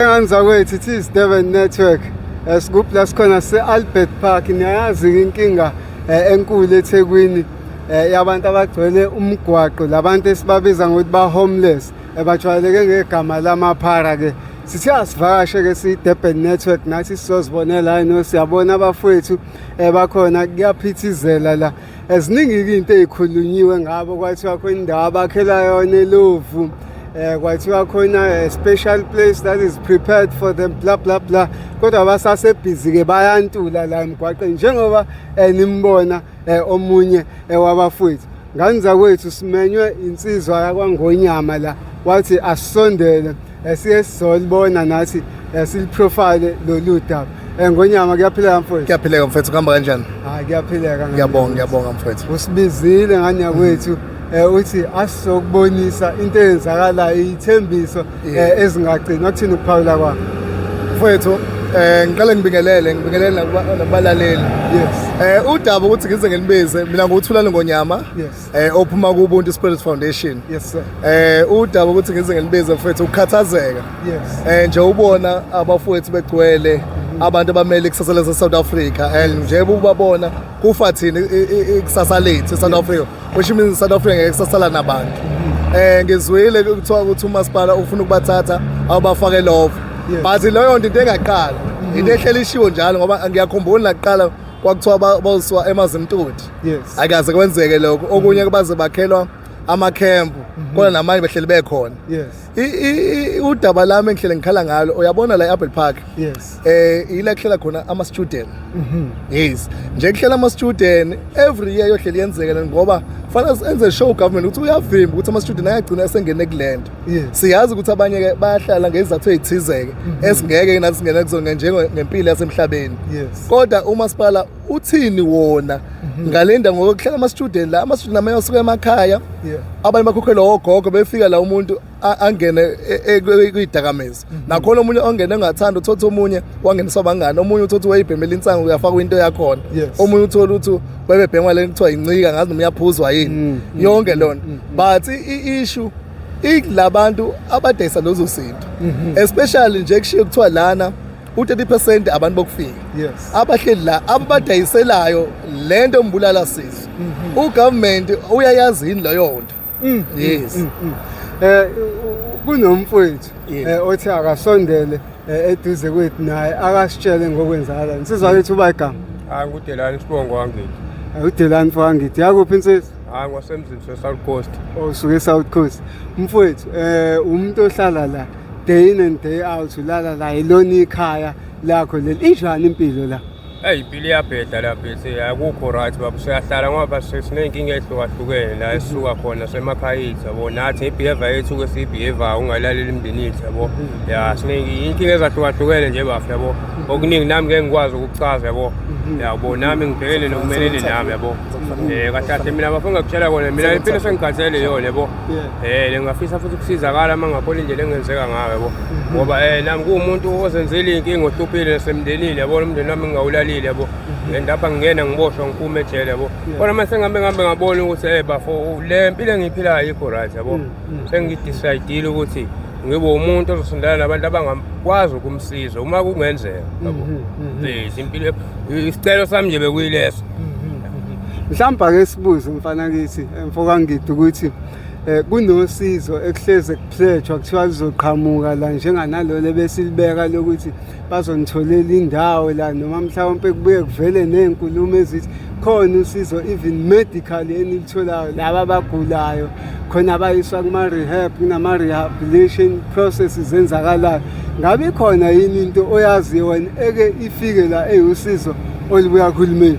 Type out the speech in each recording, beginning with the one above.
Ngani zakwethu it is Durban Network esikuphi la sikhona se-Albert Park niyayazi inkinga eh, enkulu eThekwini eh, yabantu abagcwele umgwaqo labantu esibabiza ngokuthi ba-homeless ebajwayeleke ngegama lamaphara ke sithe asivakashe ke siyi-durban network nathi sizozibonela yini siyabona abafowethu um bakhona kuyaphithizela la Eziningi-ke into ey'khulunyiwe ngabo kwathiwa khona indawo abakhela yona elovu um eh, kwathiwa khona a eh, special place that is prepared for them bla bla bla kodwa basasebhizi-ke bayantula la emgwaqeni njengoba um nimbona um omunye um wabafowethu ngani zakwethu simenywe insizwa yakwangonyama la wathi asisondele Eh, siye sizolibona nathi eh, siliprofile lolu daba um eh, ngonyama kuyaphileka mfowethu kuyaphileka mfowethu kuhamba kanjani hayi kuyaphileka ngiyabonga ngiyabonga mfowethu usibizile ngane yakwethu um uthi asizokubonisa into eyenzakalayo iyithembiso um ezingagcini okuthini ukuphawula kwakho mfowethu um ngiqale ngibingelele ngibingelele nakubalaleli yes um udaba ukuthi ngize ngilibize mina nguwuthulani ngonyama yes eh ophuma kuBuntu Spirit Foundation yes sir eh udaba ukuthi ngize ngelibize mfethu ukukhathazeka yes eh nje ubona abafowethu begcwele abantu abamele ikusasa lase South Africa and nje ubabona kufa thina ikusasa lethu South Africa which means South Africa ngeke kusasala nabantu mm-hmm. eh ngizwile kuthiwa ukuthi umasipala ufuna ukubathatha awubafake love but leyo nto into engaqala mm-hmm. into ehlelishiwe njalo ngoba ngiyakhumbula naqala kwakuthiwa bawusiwa emazimtoti yes akaze kwenzeke lokho okunye mm. kubaze bakhelwa amakhempu mhm. kodwa namanye behleli bekhona yes udaba lami engihlele ngikhala ngalo uyabona la e-apple park yes eh yila kuhlela khona ama-student mhm. yes nje kuhlela ama-student every year yohleli yenzeke ngoba fanele enze show government ukuthi uyavimba ukuthi ama-student ayagcina esengene kule nto siyazi ukuthi abanye ke bayahlala ngezizathu ezithizeke mhm. esingeke nathi singena kuzona njengempilo yasemhlabeni kodwa umasipala uthini wona mhm. ngalenda ngokuhlala ama student la ama student amaye asuka emakhaya abanye bakhokhelwa ogogo befika la umuntu angene e, e, e, kwidakamizwa nakhona omunye ongene engathanda uthotha omunye wangenisa abangani omunye uthotha wayibhemela insangu uyafaka into yakhona omunye uthola ukuthi bebebhengwa lento kuthiwa incika ngazi noma uyaphuzwa yini mm, mm, yonke mm, lona but i-issue ilabantu abadayisa lezo zinto mm-hmm. especially nje kushiye kuthiwa lana u-30 percent abantu bokufika abahleli la ababadayiselayo le nto mbulala sizo mm-hmm. ugovernment uyayazi yini leyo nto Mm, mm, yes. Mm, mm. Eh kunomfowethu Yes. eh, othi akasondele eh, eduze kwethu naye akasitshele ngokwenzakala. Insizwa yethu uba igama. hayi ngudelani isibongo wangithi Eh, Udelani fangithi yakuphi insizwa? hayi ngwasemzini sesouth coast osuke eSouth Coast mfowethu eh umuntu ohlala la day in and day out ulala la ilona ikhaya lakho leli injani impilo la Eyi impilo iyabheda la bese akukho right baba siyahlala ngoba siney'nkinga ey'hlukahlukene la esisuka khona semakhaya ethu yabo nathi ngebehavior yethu ke siyibehavior ungalaleli imindeni yethu yabo ya siney'nkinga ezahlukahlukene nje bafo yabo okuningi nami ngeke ngikwazi ukukuchaza yabo yabo nami ngibhekene nokumelene nami yabo um kahle kahle mina bafo engakutshela kona mina impilo sengikhathele yona yabo Eh lengafisa futhi ukusizakala uma ngabona indlela engenzeka ngayo yabo. Mhm. Ngoba eh nami kuumuntu ozenzile inkinga ohlupile nasemndenini yabo umndeni wami ngingawulalile yabo. Mhm. And lapha ngingena ngiboshwa ngiphume ejele yabo. Kodwa mase ngihambe ngihambe ngabona ukuthi eh bafo le mpilo engiphilayo ikho right yabo. Mm, mm. Sengidecidile ukuthi ngibe umuntu ozosondela nabantu abangakwazi ukumsiza uma kungenzeka yabo. Mhm, Please impilo isicelo sami nje bekuyileso. Mhlawumbe ake sibuze mfana kithi emfoka ngidi ukuthi eh kunosizo ekuhleze kupledgwa kuthiwa lizoqhamuka la njenganalolo ebesilibeka lokuthi bazonitholela indawo la noma mhlawumpe kubuye kuvele nezinkulumo ezithi khona usizo even medical enilitholayo laba abagulayo khona bayiswa kuma rehab kunama rehabilitation processes zenzakalayo ngabe khona yini into oyaziyo wena eke ifike la eyiwusizo Olibuya uhulumeni.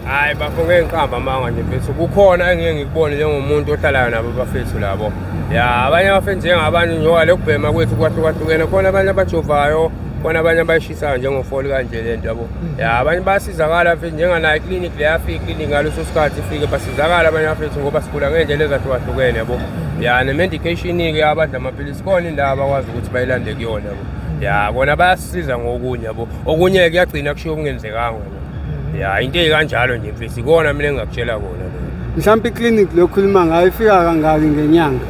Hayi bafo ngeke ngiqamba amanga nje mfethu. Kukhona engeke ngikubone njengomuntu ohlalayo nabo bafethu labo. Ya abanye abafethu njengabanye njengoba lokubhema kwethu kwahlukahlukene khona abanye abajovayo khona abanye abayishisayo njengofoli kanje le nto yabo ya abanye bayasizakala mfethu njenganayo iclinic le yafika iclinic ngaleso sikhathi ifike basizakala abanye bafethu ngoba sigula ngey'ndlela ezahlukahlukene yabo ya ne-medication-ke abadla amaphilisi khona indawo abakwazi ukuthi bayilande kuyona yabo ya bona bayasisiza ngokunye yabo okunye kuyagcina kushiwo kungenzekanga hmm. ya into eyikanjalo nje mfisi ikona mina engingakutshela kona lo mhlawumbe iclinic lokhuluma ngayo ifika kangaki ngenyanga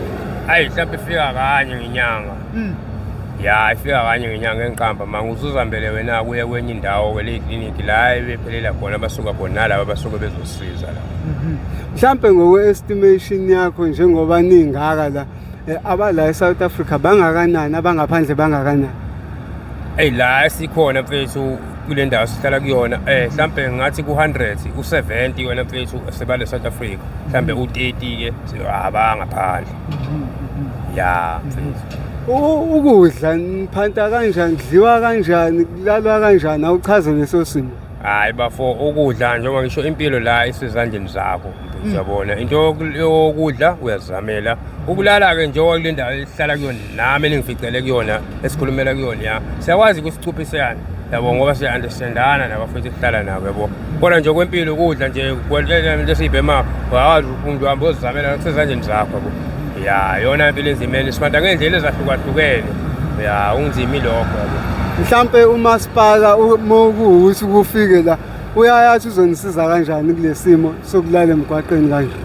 ayi mhlawumbe ifika kanye ngenyanga hmm. ya ifika kanye ngenyanga engiqamba ma ngizuzambele wena kuye kwenye indawo ke le clinic la ebephelela khona abasuka khona nalaba abasuke bezosiza la mhm. mhlambe ngokwe estimation yakho njengoba ningaka la Eh, abala eSouth Africa bangakanani abangaphandle bangakanani eyi la sikhona mfethu kule ndawo sihlala kuyona um eh, mhlawumbe ngathi ku-hundred u-seventy wena mfethu sebale south africa mhlawumbe mhm. u-thirty-ke abangaphandle mhm. ya mfethu mhm. ukudla niphanta kanjani kudliwa kanjani kulalwa kanjani awuchaze leso simo hayi bafo ukudla njengoba ngisho impilo la isezandleni zakho mm. uyabona into yokudla uyazamela ukulala-ke njengoba kule ndawo esihlala kuyona nami eningificele kuyona esikhulumela kuyona ya siyakwazi kusicuphiseyana yabo ngoba siya-understandana nabafethu esihlala nabo yabo kodwa nje kwempilo ukudla nje into esiyibhema uyawazi umuntu uhambe ozizamela kusezandleni zakho yabo ya yona impilo ezimele sibantu ngey'ndlela ezahlukahlukene ya unzima ilokho mhlampe umasipala uma kuwukuthi kufike la uyayathi uzonisiza kanjani kule simo sokulala emgwaqeni kanje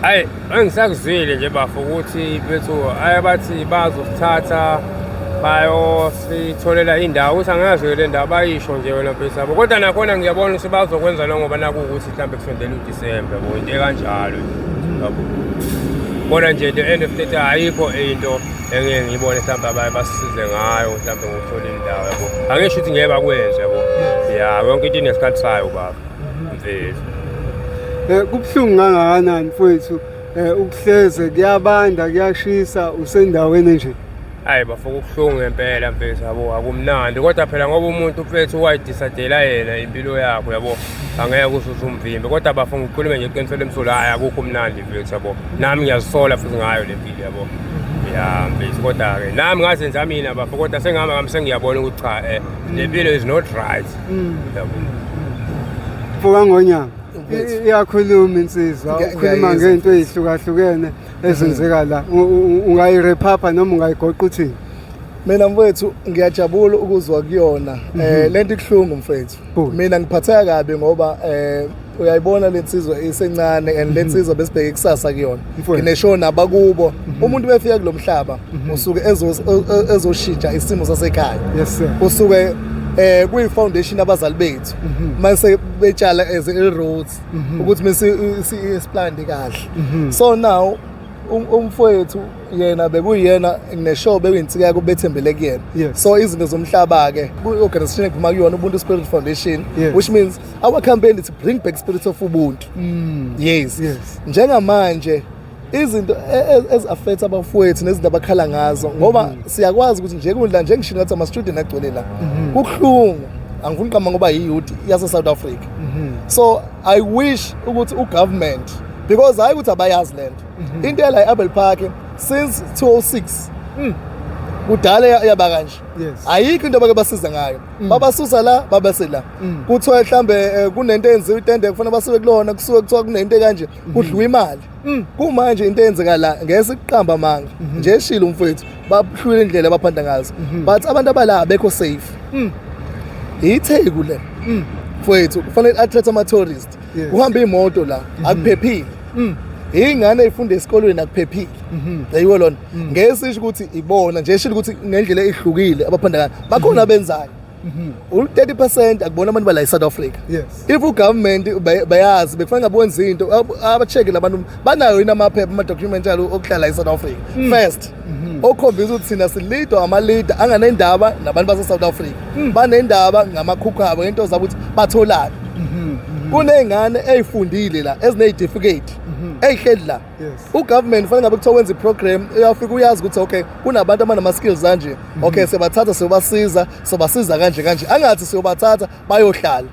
ayi angisakuzwile nje bafo ukuthi bethu aye bathi bazosithatha bayositholela indawo ukuthi angazi-ke le ndawo bayisho nje wena mfethu yabo kodwa nakhona ngiyabona ukuthi bazokwenza lo ngoba nakuwukuthi mhlawumbe kusondela udisembe or into ekanjalo yabo kodwa nje the end of the day ayikho into engeke ngiyibone mhlawumbe abaye basisize ngayo mhlawumbe ngokuthola indawo yabo angisho ukuthi ngeke bakwenze yabo ya yonke into inesikhathi sayo baba mfethu Eh kubuhlungu kangakanani mfowethu eh ukuhleze kuyabanda kuyashisa usendaweni nje. hayi bafo kubuhlungu ngempela mfethu yabo akumnandi kodwa phela ngoba umuntu mfethu wayidisadela yena impilo yakho yabo angeke usuze umvimbe kodwa bafo ngikhulume nje iqiniselo emsolo hayi akukho umnandi mfethu yabo nami ngiyazisola futhi ngayo le mpilo yabo ya mfethu kodwa-ke nami ngazenza mina bafo kodwa sengihamba ngami sengiyabona ukuthi cha um le mpilo is not right Mm. yabo Mfoka Ngonyama, Mfethu. i- iyakhuluma insizwa, Ngiya- ukhuluma ngiyayizwa, ngento ezihlukahlukene. ezenzeka la ungayirephapha noma ungayigoqa uthini mina mfethu ngiyajabula ukuzwa kuyona um mhm. eh, le nto ikuhlungu mfethu mina ngiphatheka kabi ngoba um uyayibona le nsizwa isencane and le mhm. nsizwa besibheke ikusasa kuyona ngineshow nabakubo mhm. umuntu befika kulo mhlaba usuke ezoshintsha isimo sasekhaya usuke eh kuyi foundation abazali bethu mase betshala as a roots mhm. ukuthi mse isiplande kahle mhm. so now um, umfowethu yena bekuyena neshow bekuyinsika yakho bethembele kuyena so izinto zomhlaba ke ku-organization ephuma kuyona ubuntu spirit foundation which means our campaign is to bring back spirit of ubuntu mm. yes njengamanje izinto e, e, ezi-affect abafowethu nezinto abakhala ngazo ngoba mm-hmm. siyakwazi ukuthi nje kundla njengisho ngathi ama-student agcwele la mm-hmm. kubuhlungu angifuni uqamba ngoba yiyouth yase-south africa mm-hmm. so i wish ukuthi ugovernment because hhayi ukuthi abayazi le nto into yala i-abel park since 206 mm. kudala yaba kanje ayikho into abake basiza ngayo mm. babasusa la babese la mm. kuthiwa mhlawumbe eh, kunento eyenziwa itende kufanele basuke kulona kusuke kuthiwa kunento kanje kudliwa imali mm. kumanje into eyenzeka la ngese kuqamba amanga mhm. nje eshilo umfowethu bahlule indlela abaphanda ngazo mhm. but abantu abala bekho safe mm. itheku le mm. mfowethu kufanele athathe ama tourist kuhamba imoto la mhm. akuphephile ingane ifunde esikolweni akuphephile mhm. yayiwo lona mhm. ngeke sisho ukuthi ibona nje shilo ukuthi ngendlela ehlukile abaphanda bakhona abenzayo Mhm. u-30 percent akubona abantu bala e-south africa yes if ugovernment bay- bayazi bekufanele ngabe wenza into ab- abacheke labantu banayo yini amaphepha ama-document alo okuhlala e-south africa Mm. first Mhm. okhombisa ukuthi thina silidwa amalida anganendaba nabantu base-south africa Mm. banendaba ngamakhukhu abo ngento zabo ukuthi batholani Mhm. kuney'ngane ey'fundile la eziney'tifiketi ey'hleli la ugovernment fanele ngabe kuthiwa wenza iprogram uyafika uyazi ukuthi okay kunabantu abanama-skills anje mhm. okay siyobathatha siyobasiza sobasiza kanje kanje angathi siyobathatha bayohlala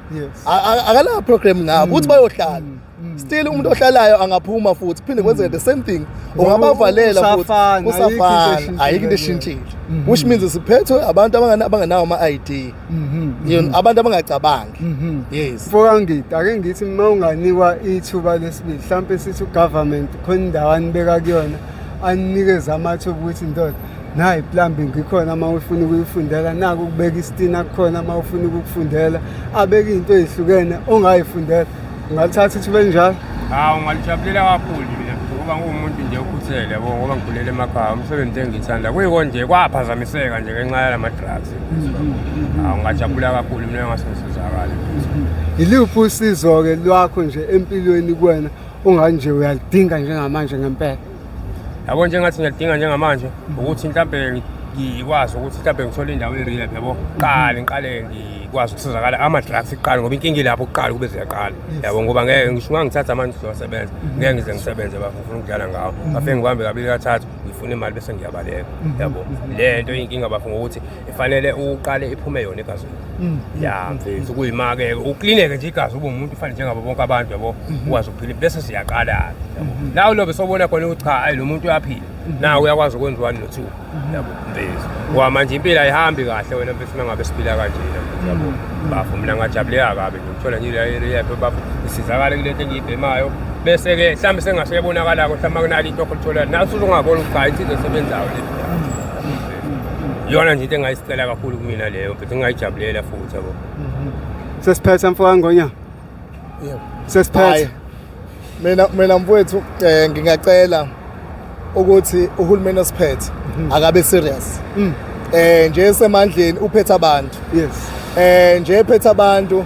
akalaa program ngabo mm. ukuthi bayohlala mm. Mm. still umuntu ohlalayo angaphuma futhi kuphinde kwenzeke the same thing ungabavalela futhi usafana ayikho into eshintshile mm-hmm. which means siphethwe abantu abangenawo ama-id yini mhm. abantu abangacabangi mhm. yes mfokangida ake ngithi uma unganikwa ithuba lesibili mhlawumpe sithi ugovernment khona indawo anibeka kuyona aninikeze amathuba ukuthi ndoda nayi plumbing ikhona uma ufuna ukuyifundela naku ukubeka isitina kukhona uma ufuna ukukufundela abeke into ezihlukene ongayifundela Ngalithatha ithuba elinjalo. Hawu ngalijabulela kakhulu mina ngoba nguwumuntu nje okhuthele yabo ngoba ngikhulele emakhaya umsebenzi engithanda kuyiko nje kwaphazamiseka nje ngenxa yala madrugs. Hawu ngajabula kakhulu mina ngase ngisizakala. Yiluphi usizo-ke lwakho nje empilweni kuwena onganje uyalidinga njengamanje ngempela? yabo njengathi ngiyadinga njengamanje ukuthi mhlawumbe ngikwazi ukuthi mhlawumbe ngithole indawo e-rehab yabo qale ngiqale ngikwazi ukusizakala ama-drugs kuqala ngoba inkinga ilapho kuqala kube ziyaqala yabo ngoba ngeke ngisho uma ngithatha amanje sizowasebenza ngeke ngize ngisebenze bafo ngifuna ukudlala ngawo bafike ngibambe kabili kathathu ngifuna imali bese ngiyabaleka yabo le nto iyinkinga bafo ngokuthi ifanele uqale iphume yona igazi mm. ya mm. mfethu kuyimake uklineke nje igazi ube umuntu ufane njengabo bonke abantu yabo mm-hmm. ukwazi ukuphila bese siyaqala mm-hmm. nawe lobe sobona khona ukuthi cha ayi lo muntu uyaphila mm-hmm. nawe uyakwazi ukwenza one notwo yabo mfethu ngoba manje impilo ayihambi kahle wena mfethu uma ngabe siphila kanjena yabo bafo mina ngajabuleka kabi ngithola nje le area yapho bafo isizakala kule nto engiyibhemayo bese-ke mhlawumbe sengaseyebonakala-ko mhlawumbe akunalo into okholitholayo naso uzongabona ukuthi cha insizwa esebenzayo le iyona nje into engayisicela kakhulu kumina leyo but ngingayijabulela futhi yabo mhm. sesiphethe mfoka ngonya yebo sesiphethe mina mina mfowethu eh, ngingacela ukuthi uhulumeni osiphethe mhm. akabe serious mm. eh nje semandleni uphethe abantu yes eh nje ephethe abantu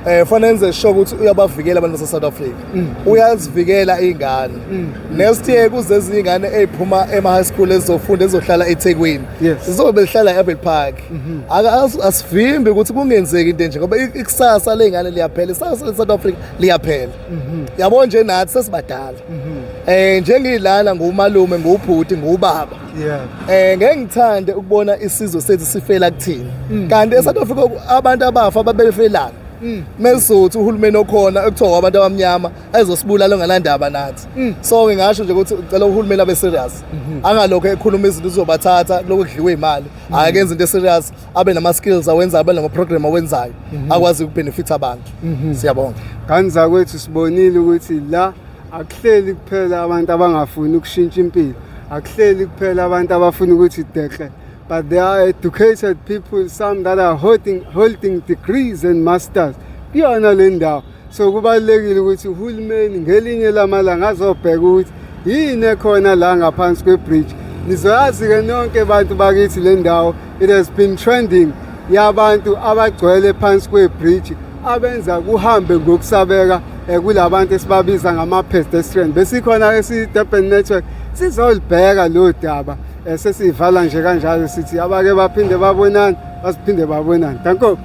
eh fanele enze sure ukuthi uyabavikela abantu base South Africa mm. uyazivikela ingane mm. next year kuze izingane eziphuma ema high school ezizofunda ezohlala eThekwini zizobe behlala eAbel Park mm-hmm. aka asivimbi ukuthi kungenzeki into nje ngoba ikusasa lezingane liyaphela isasa leSouth Africa liyaphela mm-hmm. yabo nje nathi sesibadala mm-hmm. eh njengilana ngumalume ngubhuti ngubaba yeah eh ngeke ngithande ukubona isizwe sethu sifela kuthina mm. kanti eSouth Africa abantu abafa babefelana mm. mesizothu uhulumeni okhona ekuthiwa abantu abamnyama ayezosibulala onganandaba nathi mm. so ngingasho nje ukuthi ucela uhulumeni abe serious mhm. angalokho ekhuluma izinto uzobathatha lokhu kudliwa imali mm. akenze into serious abe nama skills awenza abe nama program awenzayo mhm. akwazi ukubenefit abantu mhm. siyabonga ngani zakwethu sibonile ukuthi la akuhleli kuphela abantu abangafuni ukushintsha impilo akuhleli kuphela abantu abafuna ukuthi dekle But there are educated people, some that are holding, holding degrees and masters. Kuyona le ndawo. So kubalulekile ukuthi uhulumeni ngelinye lamalanga azobheka ukuthi yini ekhona la ngaphansi kwebridge. Nizoyazi-ke nonke bantu bakithi le ndawo. It has been trending yabantu abagcwele phansi kwebridge abenza kuhambe ngokusabeka eh, kulabantu esibabiza ngama-pedestrian besikhona esi-durban network sizolibheka lo daba Eh, sesiyivala nje kanjalo sithi abake baphinde babonane basiphinde babonane danko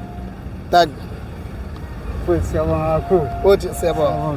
tak futhi siyabonga kakhulu futhi siyabonga